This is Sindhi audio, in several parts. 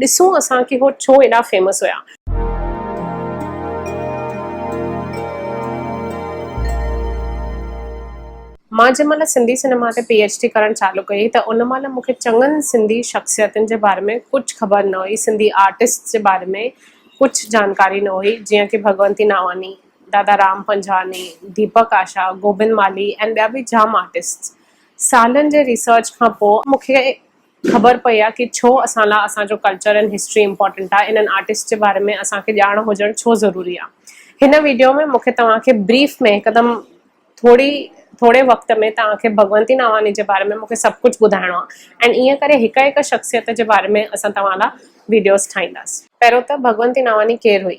ڏسون اسان کي هو ڇو ايڏا فيمس هيا. مان جنهن مهل سنڌي سئنيما تي پي ايڇ ڊي ڪرڻ چالو ڪئي ته ان مهل مون کي چڱن سنڌي شخصيتن جي باري ۾ ڪجهه خبر نه هئي سنڌي آرٽسٽس جي باري ۾ ڪجهه جانڪاري نه هئي جيئن ڪي ڀڳونتي ناواني، دادا رام پنجواڻي، ديپڪ آشا، گوبند مالهي ۽ ٻيا به جام آرٽسٽس سالن جي ريسرچ کان پوء مون کي خبر پئي آ ڪي ڇو اسان لا اسان جو ڪلچر ۽ هسٽري امپورٽنٽ آ انهن آرٽسٽ جي باري ۾ اسان کي ڄاڻ هجڻ ڇو ضروري آ هن ويڊيو ۾ مون کي توهان کي بريف ۾ هڪدم ٿوري ٿوري وقت ۾ توهان کي ڀڳونتي ناواني جي باري ۾ مون کي سڀ ڪجهه ٻڌائڻو آ ۽ ايئن ڪري هڪ هڪ شخصيت جي باري ۾ اسان توهان لا ويڊيوز ٺاهينداس. پهريون ته ڀڳونتي ناواني ڪير هئي؟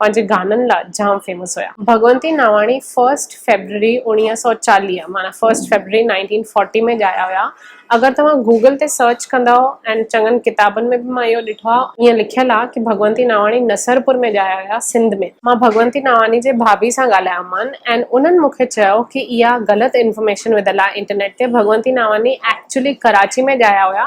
پنهنجي گانن لا جام فيمس هيا. ڀڳونتي ناواڻي فرسٽ فيبرري اوڻيهه سؤ چاليهه معنيٰ فرسٽ فيبرري نائنٽين فورٽي ۾ ڄايا هيا. اگر توهان گوگل تي سرچ ڪندؤ ۽ چڱن ڪتابن ۾ به مان اهو ڏٺو آ ائين لکيل آ ڪي ڀڳونتي ناواڻي نصرپور ۾ ڄايا هيا سنڌ ۾. مان ڀڳونتي ناواني جي ڀاڀي سان ڳالهايو مان ۽ انهن مون کي چيو ڪي اها غلط انفارميشن وڌل آ انٽرنيٽ تي ڀڳونتي ناواني ايڪچولي ڪراچي ۾ ڄايا هيا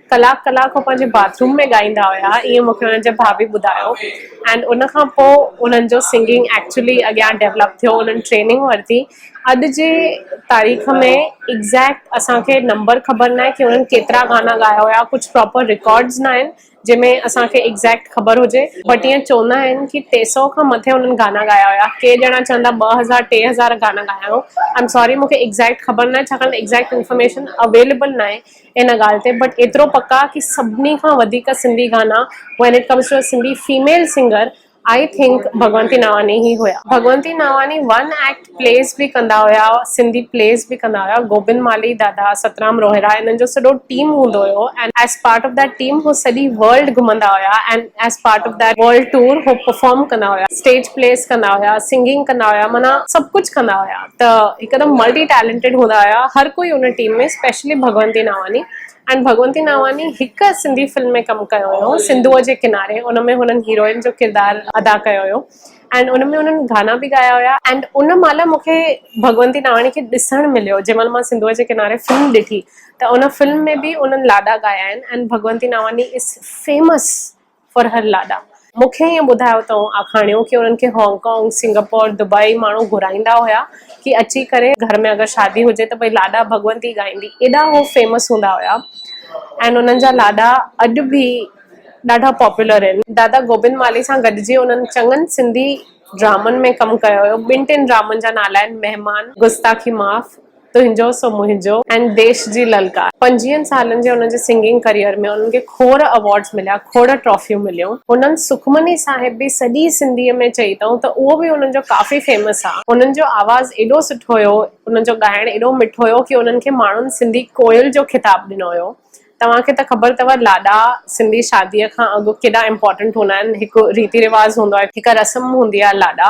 ڪلاڪ ڪلاڪ هو پنهنجي باٿروم ۾ ڳائيندا هيا ائين مونکي انهن جي ڀاڀي ٻڌايو ۽ ان کان پوء انهن جو سنگنگ ايڪچلي اڳيان ڊيولپ ٿيو انهن ٽريننگ ورتي اڄ جي تاريخ ۾ ايڪزيڪٽ اسان کي نمبر خبر ناهي ڪي انهن ڪيترا گانا ڳايا هيا ڪجهه پراپر رڪارڊز ناهن جنهن ۾ اسان کي ايڪزيڪٽ خبر هجي بٽ ائين چوندا آهن ڪي ٽي سئو کان مٿي انهن گانا ڳايا هيا ڪي ڄڻا چوندا ٻه هزار ٽي هزار گانا ڳايا هيائون آئي ايم ساري مونکي ايڪزيڪٽ خبر ناهي ڇاڪاڻ ته ايڪزيڪٽ انفارميشن اويليبل ناهي ان ڳالهه تي بٽ ايترو پڪ آ ڪي سڀني کان وڌيڪ سنڌي گانا when it comes to Sindhi female singer I think Bhagwanti Navani هي هيا. Bhagwanti Navani one act plays به ڪندا هيا سنڌي پليز به ڪندا هيا گوبند مالهي دادا سترام روهيڙا انهن جو سڏو ٽيم هوندو هيو and as part of that team هو سڄي ورلڊ گهمندا هيا and as part of that world tour هو پرفارم ڪندا هيا اسٽيج پليز ڪندا هيا سنگنگ ڪندا هيا معنيٰ سڀ ڪجهه ڪندا هيا. ته هڪدم ملٽي ٽيلنٽيڊ هوندا هيا هر ڪوئي ان team ۾ specially Bhagwanti Navani and Bhagwanti Navani هڪ سنڌي فلم ۾ ڪم ڪيو هيو سنڌوء جي ڪناري ان ۾ هنن هيروئن جو ڪردار ادا ڪيو هيو اينڊ ان ۾ هنن گانا به ڳايا هيا اينڊ ان مهل مون کي ڀڳونتي ناواني کي ڏسڻ مليو جنهن مهل مان سنڌوء جي ڪناري فلم ڏٺي ته ان فلم ۾ به انهن لاڏا ڳايا آهن and Bhagwanti Navani is famous فرحر لاڏا، مون کي ائين ٻڌايو تئون آکاڻيو ڪي انهن کي هانگ ڪانگ، سنگاپور، دبئي ماڻهو گهرائيندا هيا ڪي اچي ڪري گهر ۾ اگر شادي هجي ته ڀئي لاڏا ڀڳونتي ڳائيندي ايڏا هو فيمس هوندا هيا ۽ انهن جا لاڏا اڄ به ڏاڍا پاپولر آهن. دادا گوبند مالهي سان گڏجي انهن چڱن سنڌي ڊرامن ۾ ڪم ڪيو هيو، ٻن ٽن ڊرامن جا نالا آهن، مهمان، گستاخي معاف، تنهنجو سو منهنجو ۽ ديش جي للڪار. پنجويهن سالن جي هن جي سنگنگ ڪريئر ۾ هنن کي کوڙ ايوارڊز مليا، کوڙ ٽرافيون مليون. هنن سکمني صاحب به سڄي سنڌيء ۾ چئي اٿئون ته اهو به هنن جو ڪافي فيمس آ. هنن جو آواز ايڏو سٺو هيو، هنن جو ڳائڻ ايڏو مٺو هيو ڪي هنن کي ماڻهن سنڌي ڪوئل جو خطاب ڏنو هيو. توهان کي ته خبر اٿئو لاڏا سنڌي شاديء کان اڳ ڪيڏا امپارٽنٽ هوندا آهن. هڪ ريتي رواز هوندو آهي، هڪ رسم هوندي آهي لاڏا.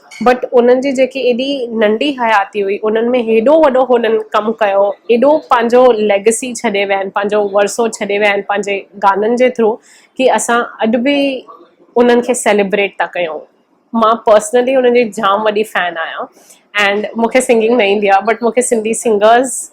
بٽ انهن جي جيڪي ايڏي ننڍي حياتي هئي انهن ۾ هيڏو وڏو هنن ڪم ڪيو ايڏو پنهنجو ليگسي ڇڏي ويا آهن پنهنجو ورثو ڇڏي ويا آهن پنهنجي گانن جي ٿرو ڪي اسان اڄ به انهن کي سيليبريٽ ٿا ڪيون مان پرسنلي انهن جي جام وڏي فين آهيان اينڊ مونکي سنگنگ نه ايندي آهي بٽ مونکي سنڌي سنگرز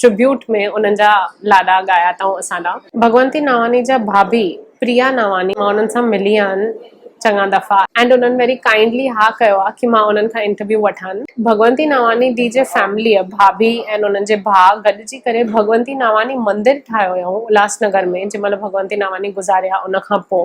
ٽربيوٽ ۾ انهن جا لاڏا ڳايا اٿائون اسان ڏانهن. ڀڳونتي ناواني جا ڀاڀي پريا ناواني مان انهن سان ملي آهن چڱا دفعا اينڊ انهن ويري ڪائنڊلي ها ڪيو آ ڪي مان انهن کان انٽرويو وٺان. ڀڳونتي ناواني ڊي جي فيمليء، ڀاڀي اينڊ انهن جي ڀاء گڏجي ڪري ڀڳونتي ناواني مندر ٺاهيو هيائون الهاس نگر ۾ جنهن مهل ڀڳونتي ناواني گذاري ها ان کان پوء.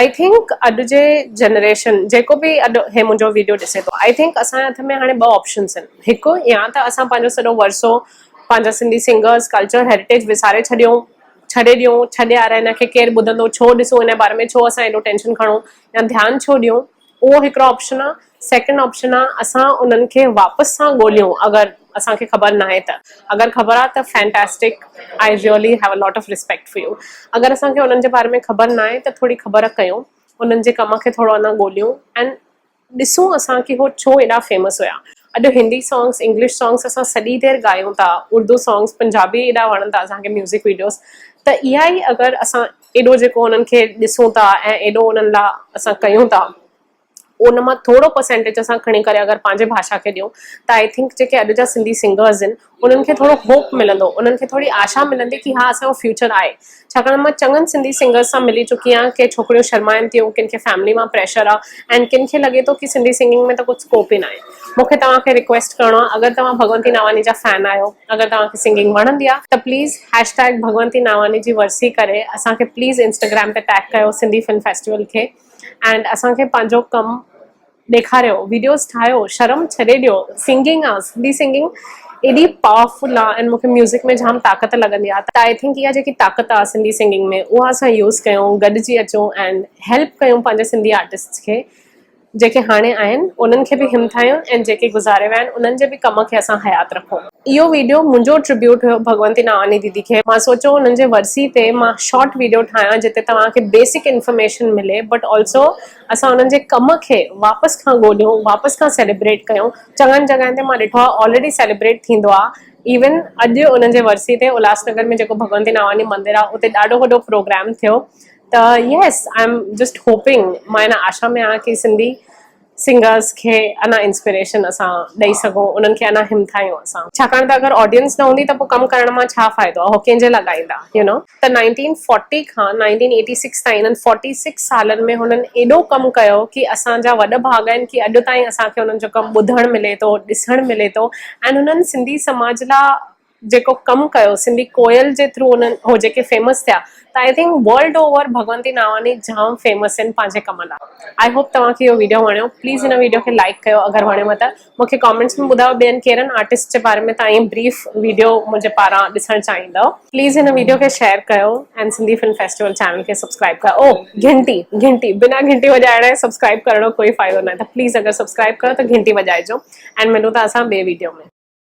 آئي ٿنڪ اڄ جي جنريشن جيڪو به اڄ هي منهنجو ويڊيو ڏسي ٿو آئي ٿنڪ اسان جي هٿ ۾ هاڻي ٻه آپشنس آهن هڪ يا ته اسان پنهنجو سڄو ورثو پنهنجا سنڌي سنگرس ڪلچر هيرٽيج وساري ڇڏيون ڇڏي ڏيون ڇڏي آرهيا هن کي ڪير ٻڌندو ڇو ڏسون هن جي باري ۾ ڇو اسان ايڏو ٽينشن کڻون يا ڌيان ڇو ڏيون اهو هڪڙو آپشن آ. سيڪنڊ آپشن آ اسان انهن کي واپس سان ڳوليون اگر اسان کي خبر ناهي ته اگر خبر آ ته fantastic I really have a lot of respect for you اگر اسان کي انهن جي باري ۾ خبر ناهي ته ٿوري خبر ڪيون انهن جي ڪم کي ٿورو اڃا ڳوليون اينڊ ڏسون اسان کي هو ڇو ايڏا فيمس هيا اڄ هندي سانگس انگلش سانگس اسان سڄي دير ڳايون ٿا اردو سانگس پنجابي ايڏا وڻن ٿا اسان کي ميوزڪ ويڊيوز ته اها ئي اگر اسان ايڏو جيڪو انهن کي ڏسون ٿا ۽ ايڏو انهن لا اسان ڪيون ٿا ان مان ٿورو پرسينٽيج اسان کڻي ڪري اگر پنهنجي ڀاشا کي ڏيون ته آئي ٿنڪ جيڪي اڄ جا سنڌي سنگرز ان انهن کي ٿورو هوپ ملندو انهن کي ٿوري آشا ملندي ڪي ها اسان جو فيوچر آهي ڇاڪاڻ مان چڱن سنڌي سنگرز سان ملي چڪي آهيان ڪي ڇوڪريون شرمائن ٿيون ڪن کي فيملي مان پريشر آهي ۽ ڪن کي لڳي ٿو ڪي سنڌي سنگنگ ۾ ته ڪجهه اسڪوپ ئي ناهي. مون کي توهان کي ريڪويسٽ ڪرڻو آهي اگر توهان ڀڳونتي ناواني جا فين آهيو اگر توهان کي سنگنگ وڻندي آهي ته please hashtag Bhagwanti Navani جي ورسي ڪري اسان کي پليز انسٽاگرام تي ٽيگ ڪيو سنڌي فلم فيسٽيول کي اينڊ اسان کي پنهنجو ڪم ڏيکاريو ويڊيوز ٺاهيو شرم ڇڏي ڏيو سنگنگ آهي سنڌي سنگنگ ايڏي پاورفل آهي اينڊ مون کي ميوزڪ ۾ جام طاقت لڳندي آهي ته آئي ٿنڪ اها جيڪي طاقت آهي سنڌي سنگنگ ۾ اها اسان يوز ڪيون گڏجي اچون اينڊ هيلپ ڪيون پنهنجي سنڌي آرٽسٽس کي جيڪي هاڻي آهن انهن کي به همٿايون ۽ جيڪي گذاري ويا آهن انهن جي به ڪم کي اسان حيات رکون. اهو ويڊيو منهنجو ٽربيوٽ هيو ڀڳونتي ناواني ديدي کي. مان سوچيو انهن جي ورسي تي مان شارٽ ويڊيو ٺاهيان جتي توهان کي بيسڪ انفارميشن ملي بٽ آلسو اسان انهن جي ڪم کي واپس کان ڳوليون واپس کان سيليبريٽ ڪيون چڱن جڳهن تي مان ڏٺو آهي آلريڊي سيليبريٽ ٿيندو آهي ايون اڄ انهن جي ورسي تي الهاس نگر ۾ جيڪو ڀڳونتي ناواني مندر آهي اتي ڏاڍو وڏو پروگرام ٿيو ته yes I am just hoping مان ان آشا ۾ آهيان ڪي سنڌي سنگرس کي انا انسپريشن اسان ڏئي سگهون انهن کي انا همٿايون اسان ڇاڪاڻ ته اگر آڊينس نه هوندي ته پو ڪم ڪرڻ مان ڇا فائدو هو ڪنهن جي لا ڳائيندا يو نو ته نائنٽين فورٽي کان نائنٽين ايٽي سڪس تائين انهن فورٽي سڪس سالن ۾ هنن ايڏو ڪم ڪيو ڪي اسان جا وڏ ڀاڳ آهن ڪي اڄ تائين اسان کي انهن جو ڪم ٻڌڻ ملي ٿو ڏسڻ ملي ٿو اينڊ هنن سنڌي سماج لا جيڪو ڪم ڪيو سنڌي ڪوئل جي ٿرو انهن هو جيڪي فيمس ٿيا ته I think world over Bhagwanti Navani جام فيمس آهن پنهنجي ڪم لاء آئي هوپ توهان کي اهو ويڊيو وڻيو پليز هن ويڊيو کي لائڪ ڪيو اگر وڻيو ته مون کي ڪامينٽس ۾ ٻڌايو ٻين ڪيرن آرٽسٽ جي باري ۾ تان ائين بريف ويڊيو منهنجي پاران ڏسڻ چاهيندؤ پليز هن ويڊيو کي شيئر ڪيو ۽ سنڌي فلم فيسٽيول چينل کي سبسڪرائب ڪيو او گهنٽي گهنٽي بنا گهنٽي وڄائڻ ۽ سبسڪرائب ڪرڻ جو ڪوئي فائدو ناهي ته پليز اگر سبسڪرائب ڪيو ته گهنٽي وڄائجو ۽ ملون ٿا اسان ٻي ويڊيو ۾.